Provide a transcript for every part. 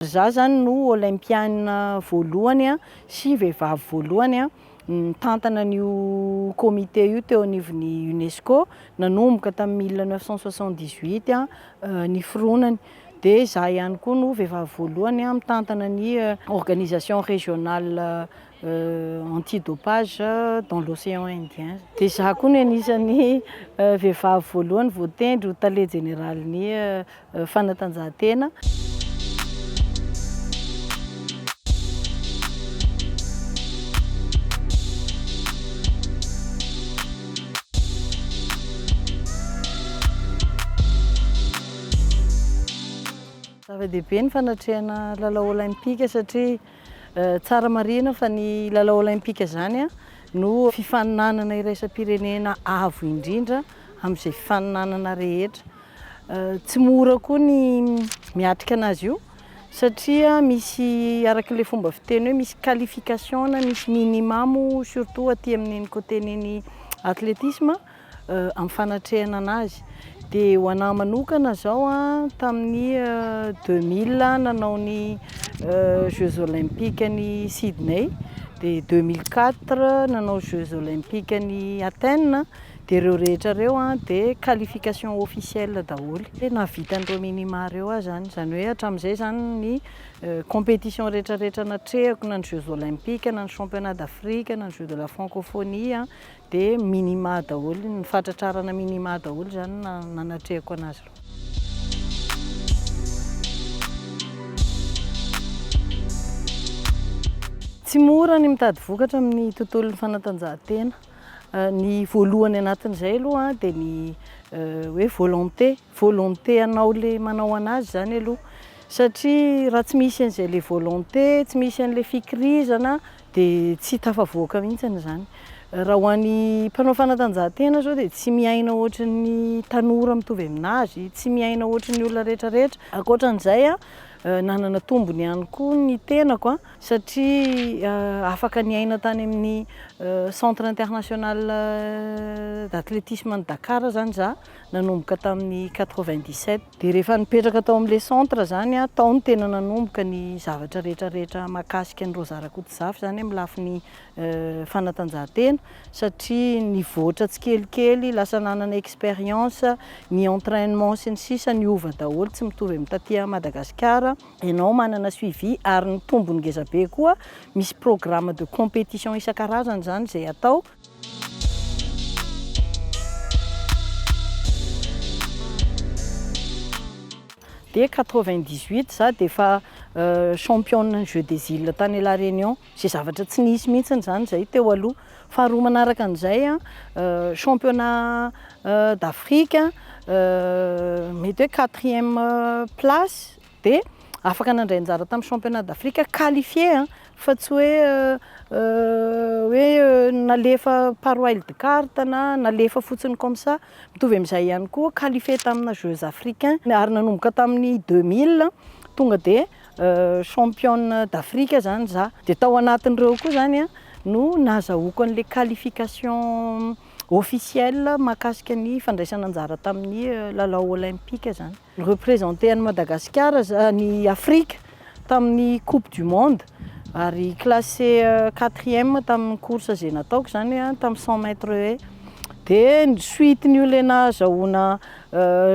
Za zany no Olympiana voalohany sy vehivavy voalohany nitantana an'io comité io teo anivon'ny UNESCO, nanomboka tamin'ny mille neuf cent soixante-dix-huit ny fironany. Dia za ihany koa no vehivavy voalohany mitantana ny organisation régionale anti dopage dans l'océan indien. Dia izaho koa no anisan'ny vehivavy voalohany voatendry ho tale jeneralin'ny fanatanjahantena. Zava-dehibe ny fanatrehana lalao olaimpika satria. Tsara marihina fa ny lalao Olaimpika izany no fifaninanana iraisam-pirenena avo indrindra amin'izay fifaninanana rehetra. Tsy mora koa ny miatrika anazy io satria misy araka ilay fomba fiteny hoe misy qualification na misy minimum surtout aty amin'iny côté-n'iny athlétisme amin'ny fanatrehana an'azy. Dia ho an'ahy manokana izao tamin'ny deux mille aho nanao ny jeux olympiques an'i Sydney, dia deux mille quatre nanao jeux olympiques an'i Athènes, dia ireo rehetra ireo dia qualification officielle daholo. Dia nahavita an'ireo minima ireo aho izany, izany hoe hatramin'izay izany ny compétition rehetrarehetra natrehako, na ny jeux olympiques, na ny championnat d'Afrique, na ny jeux de la francophonie. Dia minima daholo, ny fahatratrarana minima daholo izany no nanatrehako an'azy ireo. Tsy mora ny mitady vokatra amin'ny tontolon'ny fanatanjahantena. Ny voalohany anatin'izay aloha dia ny eh, hoe volonté, Volonté anao le manao anazy zany aloha satria raha tsy misy an'izay le volonté, tsy misy an'le fikirizana de tsy tafavoaka mihitsiny zany. Raha ho an'ny mpanao fanatanjahantena zao de tsy miaina ohatrin'ny tanora mitovy aminazy, tsy miaina ohatrin'ny olona rehetra rehetra. Ankoatran'izay a, nanana tombony ihany koa ny tenako a, satria afaka niaina tany amin'ny centre international d'athlétisme an'i Dakar zany za, nanomboka tamin'ny quatre-vingt-dix-sept. Dia rehefa nipetraka tao amin'ilay centre izany aho, tao no tena nanomboka ny zavatra rehetra rehetra mahakasika an'i Rosa Rakotozafy izany amin'ny lafiny fanatanjahantena satria nivoatra tsikelikely, lasa nanana expérience, ny entrainement sy ny sisa niova daholo, tsy mitovy amin'ny taty Madagasikara. Ianao manana suivi ary ny tombony ngezabe koa, misy programme de compétition isan-karazany izany izay atao. Dès quatre-vingt dix huit za dia efa championne ny jeux des îles tany la Réunion, izay zavatra tsy nisy mihitsy izany izay teo aloha, faharoa manaraka an'izay championnat d'Afrique mety hoe quatrième place dia afaka nandray anjara tamin'ny championnat d'Afrique qualifié an, fa tsy hoe hoe nalefa par wild card na nalefa fotsiny comme ça, mitovy amin'izay ihany koa qualifié tamina jeux africains ary nanomboka tamin'ny deux mille tonga dia championne d'Afrique izany za, dia tao anatin'ireo koa izany an no nahazahoako an'ilay qualification officielle mahakasika ny fandraisana anjara tamin'ny lalao olympique izany. Representer an'i Madagasikara, an'i Afrika tamin'ny coupe du monde ary classer quatrième tamin'ny course izay nataoko izany hoe tamin'ny cent mètres haies. Dia ny suite n'io ilay nahazahoana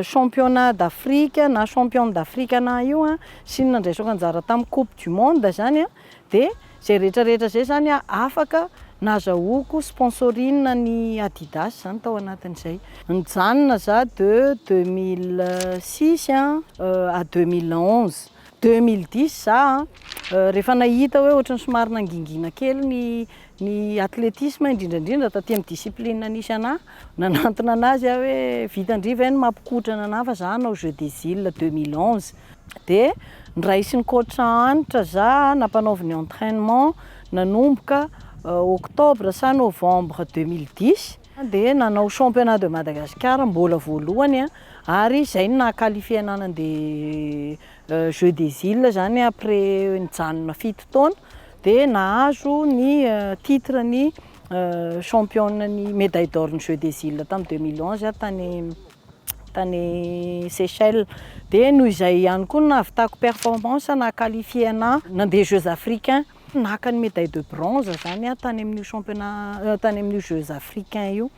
championnat d'Afrique na championne d'Afrique anah io sy ny nandraisako anjara tamin'ny coupe du monde izany an, Dia izay rehetra rehetra izay izany aho afaka nazahoako sponsoring ny Adidas izany tao anatin'izay. Nijanona za de deux mille six a à deux mille onze. Deux mille dix za rehefa nahita hoe ohatran'ny somary nangingina kely ny Ny athlétisme indrindra indrindra taty amin'ny discipline nisy anà, nanantona an'azy aho hoe vitan-dry ve ny mampikotrana anà fa za hanao jeux des îles deux mille onze. Dia noraisin'ny coach Hanitra za nampanaoviny entrainement nanomboka octobre sa novembre deux mille dix, dia nanao championnat de Madagascar mbola voalohany ary zay no naha qualifier anà nandeha jeux des îles zany après nijanona fito taona. dia nahazo ny titre ny championne ny médaille d'or ny jeux des îles tamin'ny 2011 aho tany tany Seychelles dia noho izay ihany koa no nahavitako performance naha qualifié ana nandeha jeux africains naka ny médaille de bronze zany aho tany amin'io championnat tany amin'io jeux africains io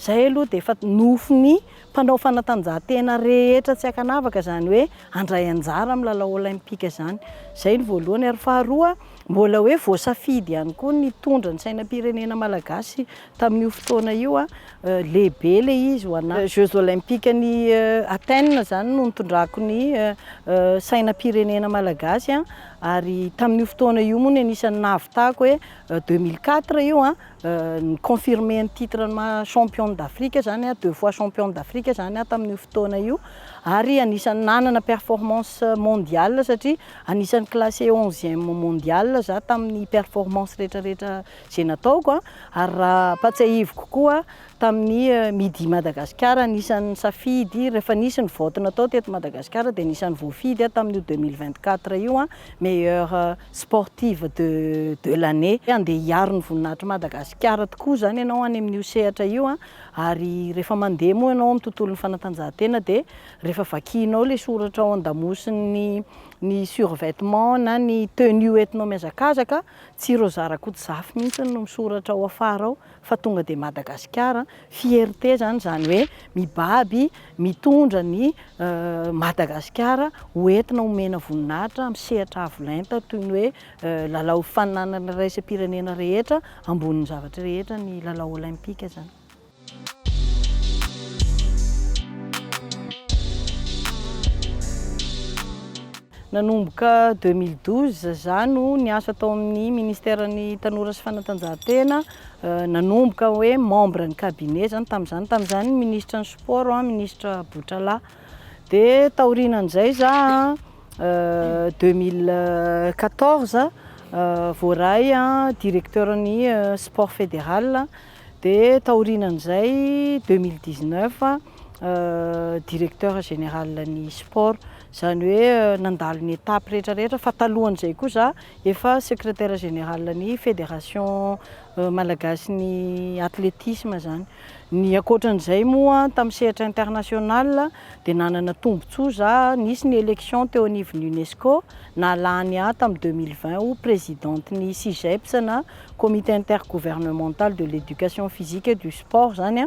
zay aloha dia efa nofin'ny Mpanao fanatanjahantena rehetra tsy ankanavaka izany hoe handray anjara amin'ny lalao Olaimpika izany. Izay ny voalohany ary faharoa mbola hoe voasafidy ihany koa ny hitondra ny sainam-pirenena malagasy tamin'io fotoana io. Lehibe ilay izy ho anà. Jeux Olaimpika-n'i Athènes izany no nitondrako ny sainam-pirenena malagasy ary tamin'io fotoana io moa ny anisan'ny nahavitako hoe deux mille quatre io Ni-confirmer ny titre ny maha champion d'Afrique izany, deux fois champion d'Afrique izany tamin'io fotoana io. Ary anisan'ny nanana performance mondiale satria anisan'ny classé onzième mondiale izaho tamin'ny performance rehetrarehetra izay nataoko. Ary raha ampatsiahiviko koa tamin'ny Midi Madagasikara anisan'ny nisafidy, rehefa nisy ny vote natao teto Madagasikara dia anisan'ny voafidy aho tamin'io deux mille vingt-quatre io meilleur Sportive de de l'année handeha hiaro ny voninahitr'i Madagasikara tokoa izany ianao any amin'io sehatra io an! ary rehefa mandeha moa ianao amin'ny tontolon'ny fanatanjahantena dia rehefa vakianao ilay soratra ao an-damosin'ny ny survêtement na ny tenue entinao mihazakazaka tsy ireo zara-koto zafy mihitsy no misoratra ao afara ao fa tonga dia Madagasikara fierté zany zany hoe mibaby mitondra ny Madagasikara ho entina homena voninahitra amin'ny sehatra avo lenta toy ny hoe lalao faninanana iraisam-pirenena rehetra ambonin'ny zavatra rehetra ny lalao olaimpika zany. Nanomboka deux mille douze za no niasa tao amin'ny ministère ny tanora sy fanatanjahantena, nanomboka hoe membre ny cabinet zany tamin'izany, tamin'izany ministre ny sport an, ministre Botrala, de taorianan'izay za deux mille quatorze voaray directeur ny sport fédéral, de taorianan'izay deux mille dix neuf directeur général ny sport, Izany hoe nandalo ny étapes rehetra rehetra fa talohan'izay koa za efa secrétaire général ny fédération Malagasy ny athlétisme zany. Ny ankoatran'izay moa tamin'ny sehatra international dia nanana tombotsoa za nisy ny élection teo anivon'ny UNESCO nahalany ahy tamin'ny deux mille vingt ho présidente ny CIGEPS na comité intergouvernemental de l'éducation physique et du sport zany a.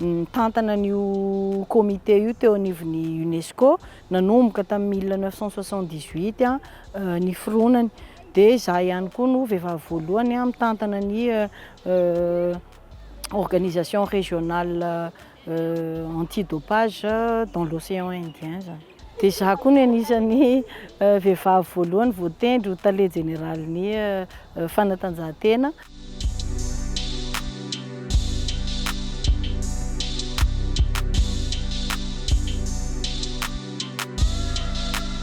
nitantana an'io comité io teo anivon'ny UNESCO nanomboka tamin'ny mille neuf cent soixante-dix-huit ny fironany. Dia izaho ihany koa no vehivavy voalohany mitantana ny organisation régionale anti-dopage dans l'océan Indien zany. Dia izaho koa no anisan'ny vehivavy voalohany voatendry ho tale jeneralin'ny fanatanjahantena.